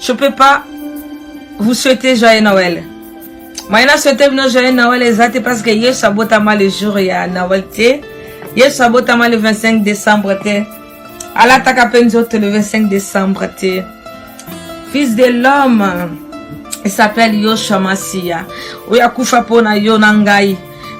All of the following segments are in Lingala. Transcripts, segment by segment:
Je peux pas vous souhaiter joyeux Noël. Moi, na souhaité bino joyeux Noël exact parce que Yesu abotama le jour ya Noël te. Yesu abotama le 25 décembre te. Alataka pe nzoto le 25 décembre te. Fils de l'homme, il s'appelle Yoshua Massia. Oya kufa pona yo na ngai.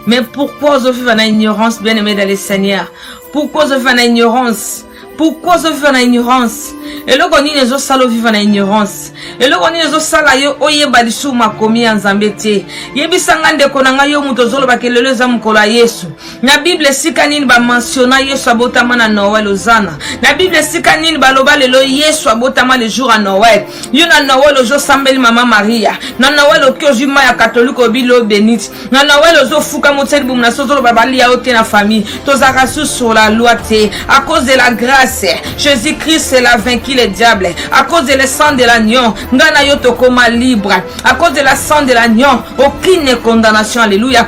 Mais pourquoi ozoviva na ignorance bien-aimé dans le Seigneur? Pourquoi ozoviva na ignorance? pourquoi ozoviva na ignorance eloko nini ezosala oviva na ignorance eloko nini ezosala yo oyeba lisusu makomi ya nzambe te yebisa ngai ndeko na ngai yo moto ozolobaka lelo eza mokolo ya yesu na bible esika nini bamansiona yesu abotama na noel ozana na bible esika nini baloba lelo yesu abotama le jour ya noel yo na noel ozosambeli mama maria na noel oki ozwi mai ya katolike obi lo benite na nawel ozofuka motia libumu na so ozoloba bali ya yo te na famille tozalaka su sur la loi te à cause de la grâce jésus christ la vaincu le diable à cause de le sang de l'agnon ngai na yo tokoma libre à cause de la sang de l'agnon aucune condamnation alléluia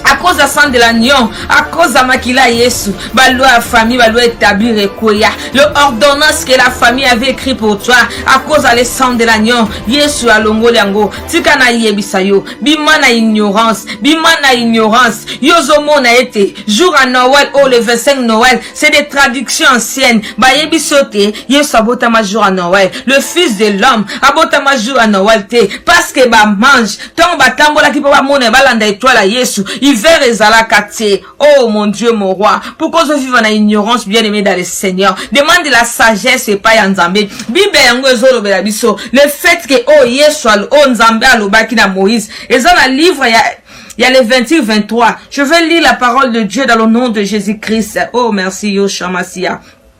à cause ya sang de l'agnon à cause ya makila ya yesu baloi ya famille baloi établir ekweya le ordonnance que la famille avait écrit pour toi à cause ya le sang de l'agnon yesu alongoli yango tika nayebisa yo bima na ignorance bima na ignorance yo ozomona ete jour ya noel oyo oh, le 25 noel c'est des traductions anciennes bayebisi yo te yesu abotama jour ya noel le fils de l'homme abotama jour ya noel te parce que bamange ntango batambolaki mpo bamona balanda etwale ya yesu hiver ezalaka te Oh mon Dieu, mon roi, pourquoi je vivre en ignorance bien aimé dans le Seigneur? Demande la sagesse et pas Nzambe. Bible yango ezolo bela biso. Le fait que oh Yesu al oh Nzambe alobaki na Moïse, eza na livre ya il y a les 28, 23. Je vais lire la parole de Dieu dans le nom de Jésus-Christ. Oh, merci, Yoshua Massia.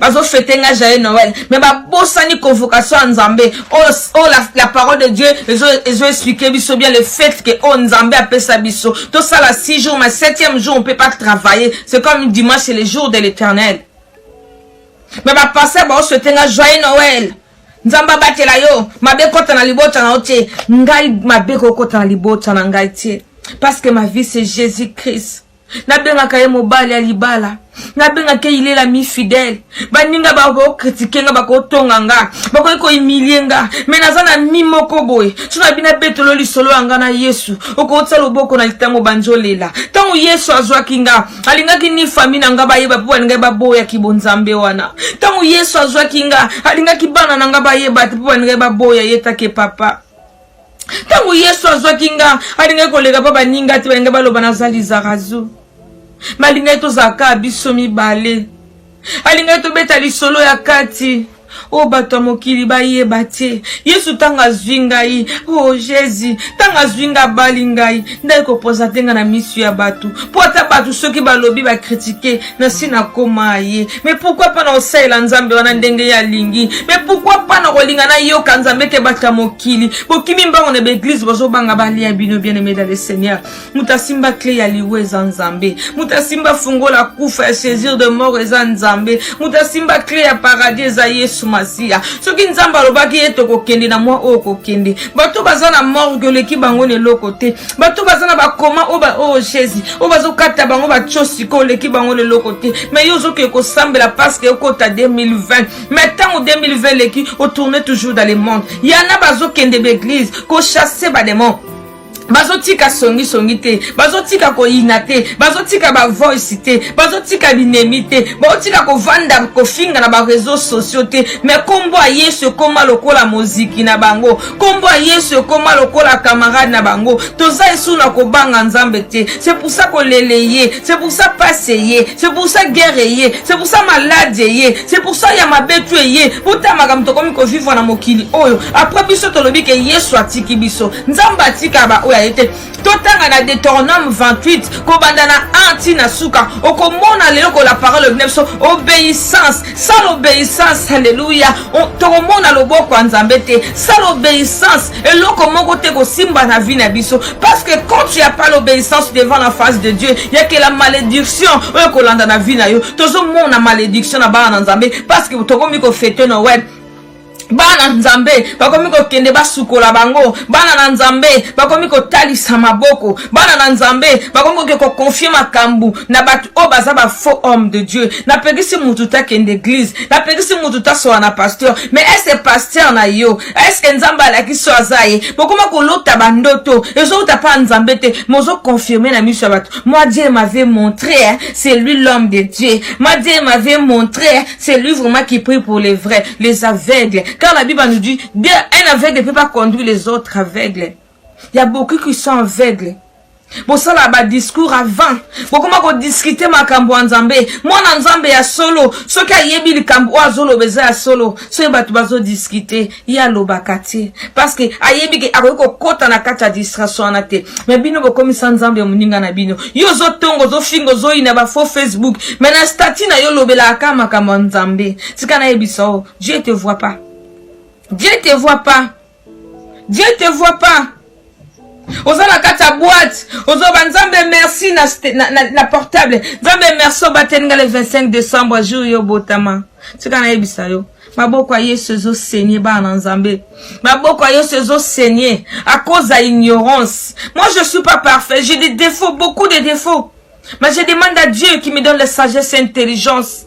bazo fete nga jaye noel mais babosani convocation ya nzambe oyo oh, oh, la, la parole de dieu ezo, ezo explique biso bien le fait que oyo oh, nzambe apesa biso tosala 6 jours mais 7e jour on peut pas travailler c'est comme dimanche c'est le jour de l'éternel mais bapasteur baoswete nga joyeux noel nzambe abatela yo mabe ekota na libota na yo te ngai mabe ekokota na libota na ngai te parce que ma vie c'est jésus christ nabengaka ye mobali ya libala nabengaka ye ilela mi fidèle baninga bakokritike nga bakotonga nga bakoki koimilie nga me naza na mi moko boye so na bina betolo lisolo ya nga na yesu okotisa loboko na litango banzi olela ntango yesu azwaki nga alingaki ni fami na nga bayeba mpo balingaki baboyaki bonzambe wana ntango yesu azwaki nga alingaki bana na nga bayeba te mpo balingaki baboya ye take papa ntango yesu azwaki nga alingaki koleka mpo baninga te balinga baloba naza lizarazu balingaki tozalaka biso mibale alingaki tobeta lisolo ya kati oyo oh, bato ya mokili bayeba te yesu ntango azwi ngai o oh, jésus ntango azwi ngai abali ngai ndai kopoza te ngai na misu ya bato mpo ata bato soki balobi bakritike nasi nakoma ye me pourkui mpa na kosalela nzambe wana ndenge ye alingi me pourkui mpa na kolinga nayoka nzambe te bato ya mokili bokimi mbango na baeglize bozobanga balia bino bien aime dans le seigneur moto asimba cle ya liwa eza nzambe moto asimba fungola kufa ya saisir de mort eza nzambe moto asimba cle ya paradis eza yesu masiya soki nzambe alobaki ye tokokende na mwa oyo kokende bato baza na morgue oleki bango na eloko te bato baza na bakoma oyo oh, oh, jésus oyo bazokata bango batyo sikoyo oleki bango na eloko te mai yo ozokee kosambela parceke okota 2020 mai ntango 2020 eleki otourne toujours dans le monde yana bazokende baeglise kochasse bademon bazotika songisongi te bazotika koyina te bazotika bavoice te bazotika binemi te bazotika kovanda kofinga na bareseau sociaux te me nkombo ya yesu ekoma lokola moziki na bango nkombo ya yesu ekoma lokola kamarade na bango toza esu na kobanga nzambe te se poursa kolele ye c'est pour ça passe eye c'est pour ça guerre eye c'est pour ça malade eye c'est pour ça ya mabe tu eye uta makambo tokomi kovivre na mokili oyo après biso tolobi ke yesu atiki biso nzambe atika baoyo aye te totanga na deuteronome 28 kobanda na 1 ti na suka okomona lelo kola parole obina biso obéissance sala obéissance alleluya tokomona loboko ya nzambe te sala obéissance eloko moko te kosimba na vie na biso parce que quand tu as pas l'obéissance devant la face de dieu yakela malédiction oyo kolanda na vie na yo tozomona malédiction na bana na nzambe parce que tokomi kofete noel bana nzambe bakomi kokende basukola bango bana na nzambe bakomi kotalisa maboko bana na nzambe bakomi koke kokonfie makambo na bato oyo baza bafaux homme de dieu napekisi motu takende eglize napekisi motu tasola na pasteur mais ese pasteur na yo eske nzambe alakisi so aza ye bokoma kolota bandoto ezouta mpa nzambe te mozokonfirme na miso ya bato moi dieu m'avait montré hein, c'est lui l'homme de dieu moi dieu m'avait montré hein, c'est lui vraiment qui prie pour les vrais les aveugles car la bible nous dit dieu un aveugle ne peut pas conduire les autres aveugles ya beaucoup qui sont aveugles bosala ba discours avant bokoma kodiskute makambo ya nzambe mwana nzambe ya solo soki ayebi likambo oyo azoloba eza ya solo soki bato bazodiskute ye alobaka te parceke ayebi ke akoki kokɔta na kati ya distraction wana te me bino bokomisa nzambe ya moninga na bino yo ozotonga ozofinga ozoyina bafaux facebook me na stati na yo olobelaka ka makambo ya nzambe tika nayebisa o dieu te vois pas dieu te vois pas Dieu te voit pas. oza na kati ya boite ozoba nzambe merci na, na, na, na portable nzambe merci obateli nga le 25 décembre jour yo botama tika nayebisa yo maboko ya yesu ezosenye bana na nzambe maboko ya yesu ezosenye à cause ya ignorance moi je suis pas parfait j'ai des défauts beaucoup de défauts mais je demande à dieu qui me donne la sagesse et intelligence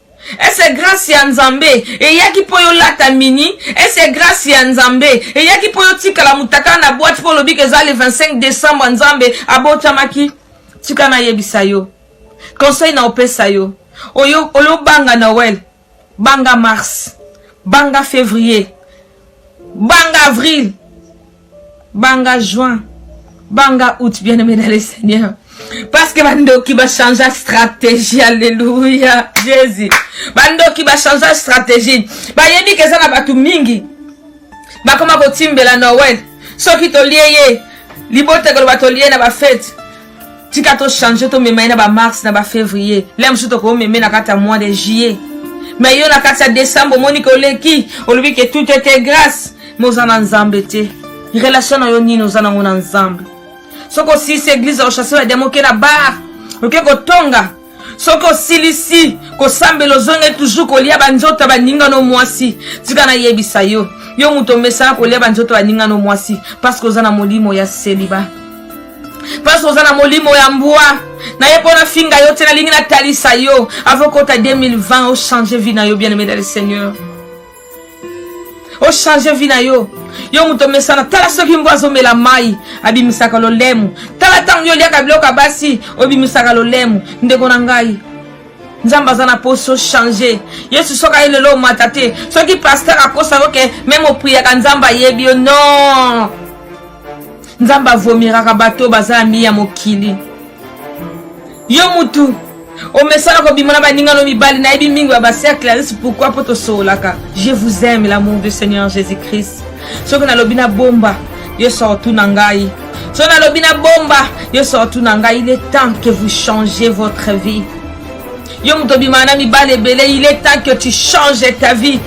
ese grasi ya nzambe eyaki mpo yolata mini ese grasi ya nzambe eyaki mpo yotikala motakala na bwati mpo olobika eza le 25 decembre nzambe abotamaki tika nayebisa yo conseil na opesa yo oyo olobanga noel banga mars banga février banga avril banga juin banga août bien aimé dans le seigneur parce que bandoki bachangea stratégie alleluya jésus bandoki bachangea stratégie bayebi ke eza na bato mingi bakoma kotimbela noel soki tolie ye libota ekoloba tolie na bafete tika to change tomema ye na ba mars na ba février le mosusu tokomeme na kati ya mois de juillet me yo na kati ya décembre omoni ke oleki olobi ke tout ete grâce me oza na nzambe te relation na yo nini oza nango na nzambe soki osisi eglise ochasse bademo oke na bar oke kotonga soki osilisi kosambela ozonge toujours kolia banzoto ya baninga no mwasi tika nayebisa yo yo moto omesana kolia banzoto ya baninga no mwasi parceke oza na molimo ya seliba parceke oza na molimo ya mbwa na ye mpo nafinga yo te nalingi natalisa yo avokota 2020 ochange vie na yo bien aimé dans le seigneur ochange vi na yo yo moto omesana tala soki mbo azomela mai abimisaka lolemu tala ntango yo oliaka biloko ya basi obimisaka lolemu ndeko na ngai nzambe aza na mposi ochange yesu soki aye lelo omata te soki paster akosa yo ke meme opriyaka nzambe ayebi yo non nzambe avomiraka bato oyo baza ami ya mokili yo mutu omesana kobima na baninga no mibali nayebi mingi ya bacercle ya risi pourkui mpo tosololaka je vous aime l'amour du seigneur jésus christ soki nalobi na bomba yo sortu na ngai soki nalobi na bomba yo sortu na ngai il est temps que vous changez votre vie yo moto obimaka na mibali ebele il est temps que tu changes ta vie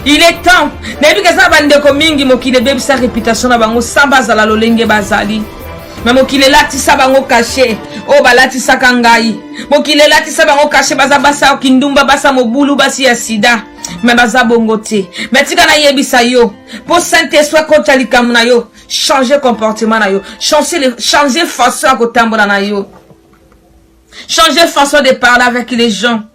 Il est temps nayebi ke eza bandeko mingi mokili ebebisa reputation na bango sans bazala lolenge bazali me mokili elatisa bango kashe oyo oh, balatisaka ngai mokili elatisa bango kashe baza basi ya kindumba basi ya mobulu basi ya sida me baza bongo te me tika nayebisa yo mpo saint esprit akota likambo na yo change comportement na yo change façon ya kotambola na yo change façon de parler avec les gens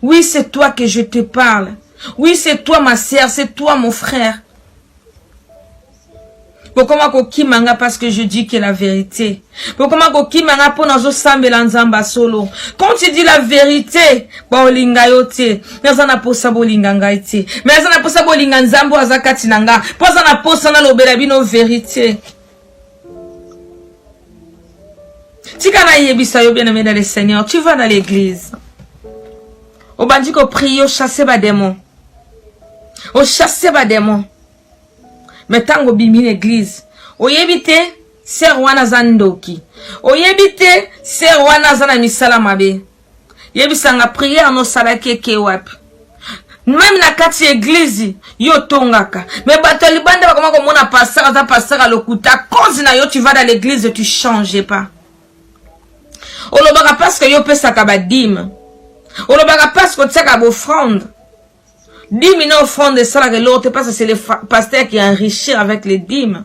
Oui, c'est toi que je te parle. Oui, c'est toi ma sœur, c'est toi mon frère. bokoma kokima nga parce que je dis que la vérité bokoma kokima nga mpo nazosambela nzambe solo quand tu dis la vérité baolinga yo te me aza na mposa bolinga ngai te me aza na mposa bolinga nzambe oyo aza kati na nga mpo aza na mposa nalobela bino vérité tika nayebisa yo bien aimé dans le seigneur tu vas dans l'église obandi koprie ochasse bademon ochasse bademon me ntango obimi na eglize oyebi te ser wana aza ndoki oyebi te ser wana aza na misala mabe yebisanga prière nosalaki eke wapi meme na kati ya eglize yo otongaka me bato ya libanda bakoma komona pasteur aza pasteur ya lokuta cause na yo tu vas dans l'église tu change pas olobaka parceke yo opesaka badime olobaka parceke otiaka bofrande dime na ofrande esalaka eloko te parce que c'est le pasteur qui enrichir avec les dimes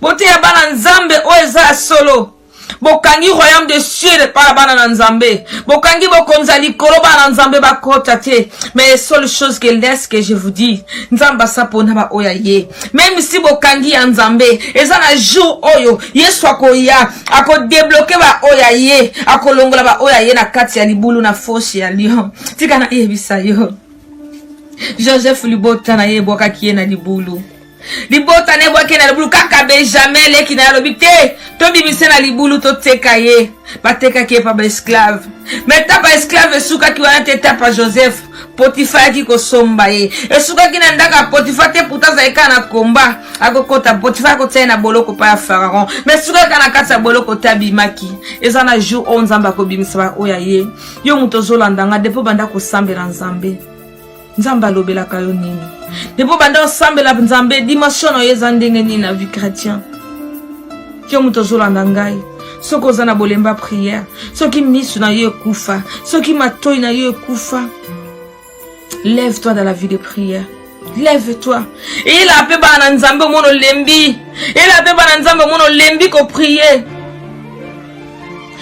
Boteya bana Nzambe oyo eza ya solo. bokangi royaume de ciel epai ya bana na nzambe bokangi bokonzi ya likolo bana na nzambe bakota te mais le seule chose que laisse que je vous dis nzambe asa mpona baoyo aye meme si bokangi ya nzambe eza na jour oyo yesu akoya akodebloke baoyo aye akolongola baoyo aye na kati ya libulu na fosi ya lion tika nayebisa yo joseph libota na ye ebwakaki ye na libulu libota na ebwaki na libulu kaka benjamin leki na ye alobi te tobimise na libulu toteka ye batekaki ye pa baesclave me ta baesclave esukaki wana te ta pa joseph potifa ayaki kosomba ye esukaki na ndako ya potifa te puta azali kaka na komba akokota potifa akotia ye na boloko pa ya faraon me esukaki kaka na kati ya boloko te abimaki eza na jour oyo nzambe akobimisa baoyo ya ye yo moto ozolanda nga depo banda kosambela nzambe nzambe alobelaka yo nini depo banda osambela nzambe dimension na yo eza ndenge nini na vie chrétien yo moto ozolanda ngai soki oza na bolemba prière soki misu na yo ekufa soki matoi na yo ekufa lève toi dans la vie de prière lève toi eyela mpe bana na nzambe omona olembi eyela mpe bana na nzambe omona olembi koprie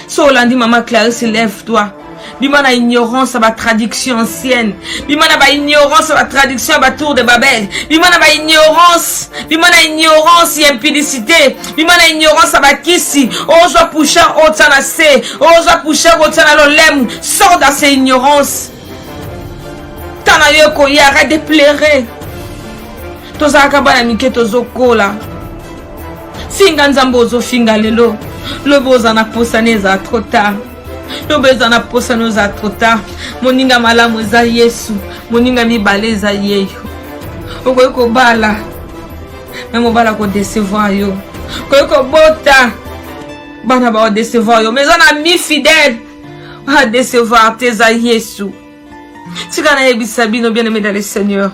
so olandi mama clarisse lève toi bima na ignorance ya batraduction ancienne bima na baignorance ya batraduction ya batour de babel bima na baignorance bima na ignorance ya impudicité bima na ignorance ya bakisi ozwa pusha otya na se ozwa pusha kotya na lolemu sort dans ces ignorance ntan na yo ekoya arrête de plaire tozalaka bana mike tozokola finga nzambe ozofinga lelo lobi oza na posani eza trop tard lobi eza na posani oza trop tard moninga malamu eza yesu moninga mibale eza yeyo okoki kobala me mobala kodecevoir yo okoki kobota bana baodecevoir yo me eza na mi fidèle adecevoir te eza yesu tika nayebisa bino bien aimé dans le seigneur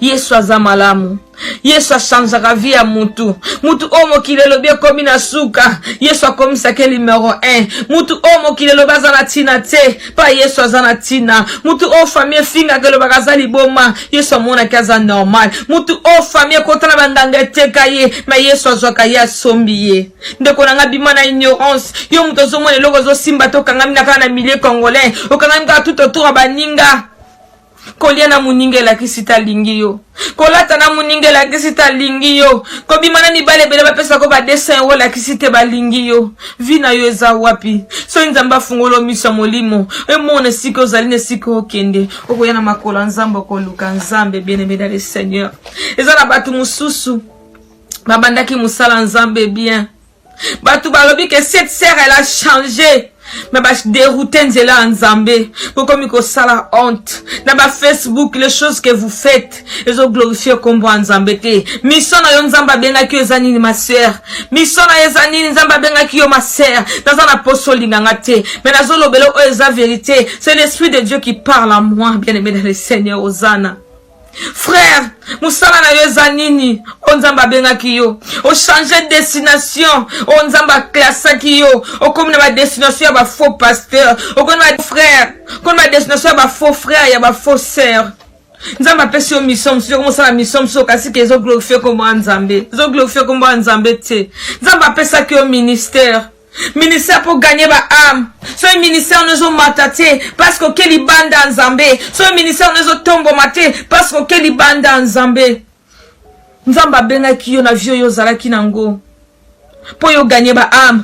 yesu aza malamu yesu achangeaka vie ya mutu mutu oyo mokili elobi ekomi na suka yesu akomisaki numero 1 mutu oyo mokili elobi aza na ntina te mpa yesu aza na ntina mutu oyo fami efingaka elobaka aza liboma yesu amonaki aza normal mutu oyo fami ekota na banganga eteka ye ma yesu azwaka ye asombi ye ndeko na ngai bima na ignorance yo moto ozomona eloko ozosimba te okangami na kaka na milieu congolais okangami kaka tout autour ya baninga kolia na moninga elakisi te alingi yo kolata na moninga elakisi te alingi yo kobima na mibale ebele bapesa ko badesin yango elakisi te balingi yo vi na yo eza wapi soki nzambe afungolo miso ya molimo emona esika ozali na esika okende okoya na makolo ya nzambe okoluka nzambe bienemeda le seigneur eza na bato mosusu babandaki mosala nzambe bien bato balobi ke cette sere elle a change me baderoute nzela ya nzambe bokomi kosala honte na bafacebook les choses que vous faites ezoglorifie nkombo ya nzambe te miso na yo nzambe abengaki yo eza nini masere miso na yo eza nini nzambe abengaki yo masere naza na poso olinganga te me nazolobela oyo eza verité c'est l'esprit de dieu qui parle à moi bien aimé dans le seigneur ozana frère mosala na yo eza nini oyo nzambe abengaki yo ochange destination oyo nzambe aklasaki yo okomi na badestination ya bafaux pasteur okomi na bafrère okomi na badestination ya bafaux frère ya bafaux sœur nzambe apesi yo mission mosusu yoko mosala mission mosusu okasi ke ezo glorifie kombo ya nzambe ezo glorifie kombo ya nzambe te nzambe apesaki yo ministère ministère mpo gagne ba ame soki ministère no ezomata te parce que oke libanda ya nzambe soki ministère no ezotomboma te parce que oke libanda ya nzambe nzambe abengaki yo na vie oyo ozalaki na yango mpo yo gagne ba ame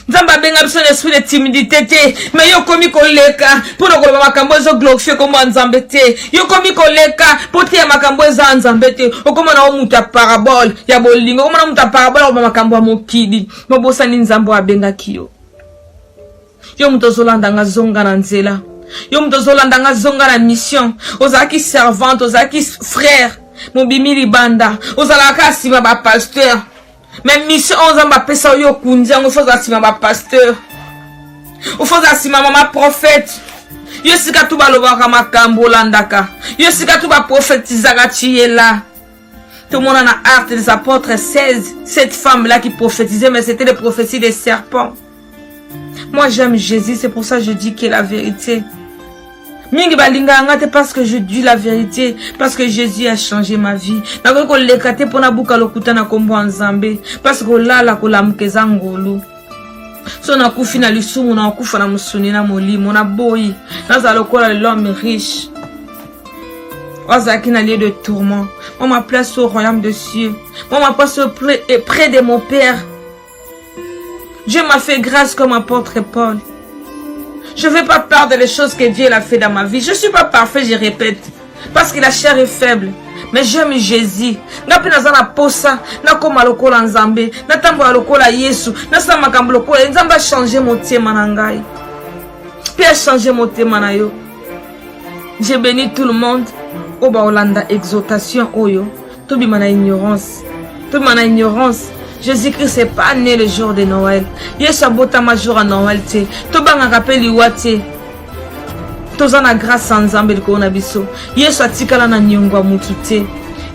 nzambe abenga biso na esprit de timidité te me yo okomi koleka mpo na koloba makambo ezo glorifie nkombo ya nzambe te yo okomi koleka mpo te ya makambo eza ya nzambe te okomona o moto ya parabole ya bolingo okomona moto ya parabole akoba makambo ya mokili Mobosani Nzambe oyo abengaki yo. Yo moto ozolanda nga zonga na nzela. Yo moto ozolanda nga zonga na mission. Ozalaki servante, ozalaki frère, mobimi libanda. Ozalaka kaka nsima ba pasteur. Mais mission oyo Nzambe apesa yo okundi yango, faut ozala nsima ba pasteur. Faut ozala nsima mama prophète. Yo sika tu balobaka makambo olandaka. Yo sika tu baprofetizaka tu ye là. Tout le monde en a hâte des apôtres 16. Cette femme-là qui prophétisait, mais c'était les prophéties des serpents. Moi, j'aime Jésus, c'est pour ça que je dis que la vérité. mingi balinganga te parce que je dis la vérité parce que jésus a changé ma vie nakoki koleka te mpo nabuka lokuta na nkombo ya nzambe parce kolala kolamuka eza ngolu so nakufi na lisumu nakokufa na mosuni na molimo naboyi nazala lokola lelome riche azalaki na lieu de tourment moi ma place au royaume de cieux moi ma place auprès, près de mon père Dieu m'a fait grâce comme apôtre Paul je fais pas part de les choses que Dieu a fait dans ma vie je suis pas parfait je répète parce que la chair est faible mais j'aime jésus nga mpe naza na posa nakóma lokola nzambe natambola lokola yesu nasala makambo lokola ye nzambe achange motema na ngai mpe achange motema na yo Je bénis tout le monde oyo bakolanda exhortation oyo tobima na ignorance tobima na ignorance jésus-christ est pas né le jour de noël yesu abotama jour ya noël te tobangaka mpe liwa te toza na grâce ya nzambe likolo na biso yesu atikala na niongo ya motu te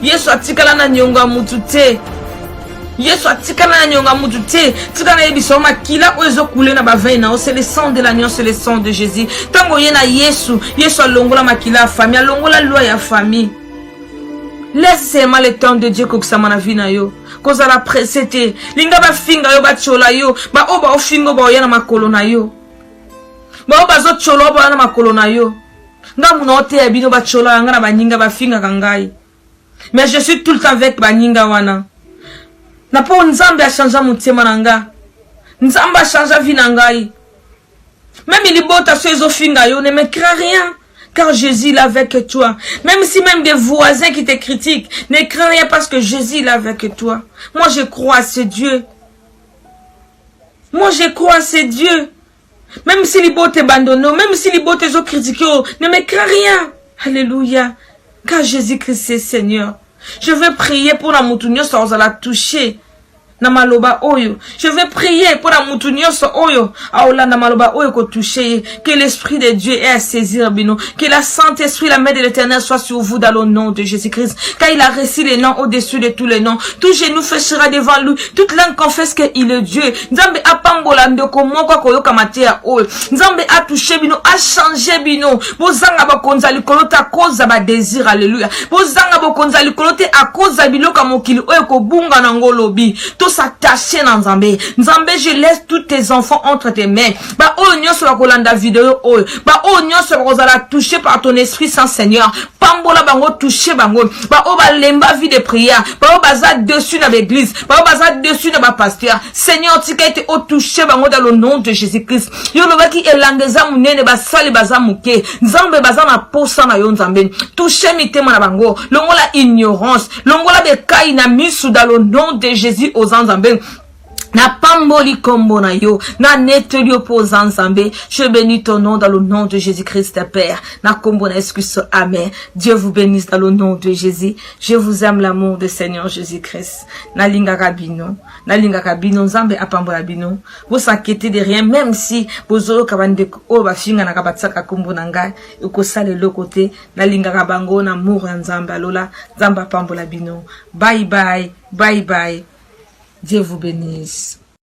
yesu atikala na niongo ya motu te yesu atikala na nionga mutu te tika nayebisa yo makila oyo ezokule na bavei na yo c'est le sang de l'agnon c'est le sang de jésus ntango oye na yesu yesu alongola makila ya famille alongola lwa ya famille laisse seulement le temps de dieu kokisama na vie na yo kozala presse te linga bafinga yo batyola yo baoyo baofinga oyo baoya na makolo na yo baoyo bazotyola oyo baoya na makolo na yo ngambu na oteya bino batyola yanga na baninga bafingaka ngai mais je suis tout le temps avec baninga wana na po nzambe achangea motema na nga nzambe achangea vie na ngai meme libota so ezofinga yo ne me cra rien car Jésus est avec toi. Même si même des voisins qui te critiquent, ne crains rien parce que Jésus est avec toi. Moi, je crois à ce Dieu. Moi, je crois à ce Dieu. Même si libota abandonne, même si libota ezo critiquer, oh, ne me crains rien. Alléluia. Car Jésus-Christ est Seigneur. Je vais prier pour la mutu nyonso akozala toucher na maloba oyo je vais prier mpo na motu nyonso oyo aolanda maloba oyo kotouche ye que l'esprit de dieu est à saisir bino que la saint esprit la main de l'éternel soit sur vous dans le nom de jésus christ car il a reçu les noms au-dessus de tous les noms tout genou fléchira devant lui toute langue confesse qu'il est dieu nzambe apambola ndeko moko akoyoka mateya oyo nzambe atushe bino achange bino bozanga bakonzi ya likolo te akoza badesir aleluya bozanga bokonzi ya likolo te akoza biloko ya mokili oyo ekobunga na yango olobi tosatache na nzambe nzambe je laisse tous tes enfants entre tes mains baoyo nyonso bakolanda video oyo baoyo nyonso bakozala touche par ton esprit saint seigneur pambola bango touche bango baoyo balemba vie de prière baoyo baza dessus na baeglise baoyo baza dessus na bapasteur seigneur tika ete otouche bango dans le nom de jésus christ yo olobaki elanga eza monene basali baza moke nzambe baza na posa na yo nzambe touche mitema na bango longola ignorance longola bekai na misu dans le nom de jésus oza nzambe napamboli kombo na yo nanetoli yo mpo oza nzambe je bénis ton nom dans le nom de jésus christ père na kombo na yesu kristo amen dieu vous bénisse dans le nom de jésus Je vous aime l'amour de Seigneur Jésus-Christ. Nalinga kabino, nalinga kabino, Nzambe apambola bino. Vous s'inquiétez de rien, même si bozo kabande o ba finga na kabatsaka kombo na ngai, eko sale le côté, nalinga kabango na amour ya Nzambe alola, Nzambe apambola bino. Bye bye, bye bye. Dieu vous bénisse.